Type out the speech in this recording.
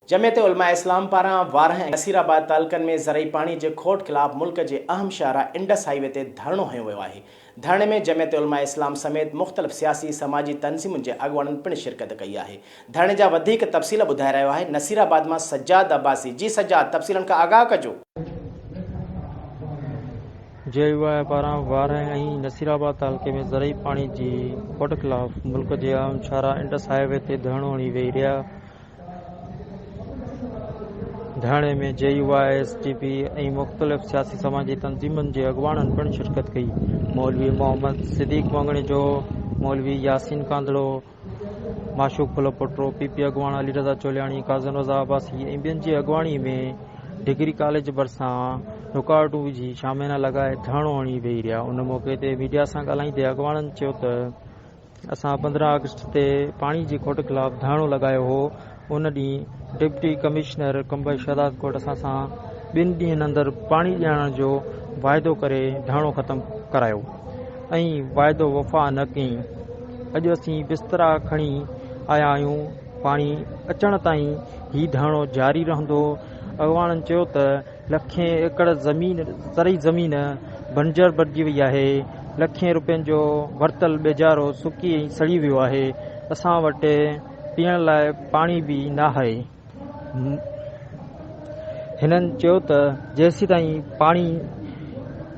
جمعيت علماء اسلام پاران وارهه ۽ نصير آباد تعلقن ۾ زرعي پاڻي جي کوٽ خلاف ملڪ جي اهم شاهراهه انڊس هاء وي تي ڌرڻو هنيو ويو آهي. ڌرڻي ۾ جمعيت علماء اسلام سميت مختلف سياسي سماجي تنظيمن جي اڳواڻن پڻ شرڪت ڪئي آهي. ڌرڻي جا وڌيڪ تفصيل ٻڌائي رهيو آهي نصير آباد مان سجاد عباسي جي سجاد تفصيلن کان آگاهه ڪجو. جي يو آء پاران وارهه ۽ نصير آباد تعلقي ۾ زرعي پاڻي جي کوٽ خلاف ملڪ جي اهم شاهراهه انڊس هاء وي تي ڌرڻو هڻي ويهي رهيا. ڌرڻي ۾ J U I, S T P ۽ مختلف سياسي سماجي تنظيمن جي اڳواڻن پڻ شرڪت ڪئي. مولوي محمد صديق مڱڻيجو، مولوي ياسين ڪانڌڙو، معشوق ڦلو پوٽو، پي پي اڳواڻ علي رضا چولياڻي، قاضن رضا عباسي ۽ ٻين جي اڳواڻي ۾ ڊگري ڪاليج ڀرسان رڪاوٽون وجهي شاميانا لڳائي ڌرڻو هڻي بيهي رهيا. ان موقعي تي ميڊيا سان ڳالهائيندي اڳواڻن چيو ته، اسان پندرهن آگسٽ تي پاڻي جي کوٽ خلاف ڌرڻو لڳايو هو ان ڏينهن ڊپٽي ڪمشنر قمبي شهدادڪوٽ اسان سان ٻن ڏينهن اندر پاڻي ڏيارڻ جو واعدو ڪري ڌرڻو ختم ڪرايو ۽ واعدو وفا نه ڪئين اڄ اسين بسترا کڻي آيا آهيون پاڻي اچڻ تائين هي ڌرڻو جاري رهندو اڳواڻن چيو ته لکين ايڪڙ زمين زرعي زمين بنجر بڻجي وئي آهي، لکين روپين جو ورتل ٻيجارو سڪي ۽ سڙي ويو آهي، اسان وٽ پيئڻ لاء پاڻي به ناهي. هنن چيو ته جيسيتائين پاڻي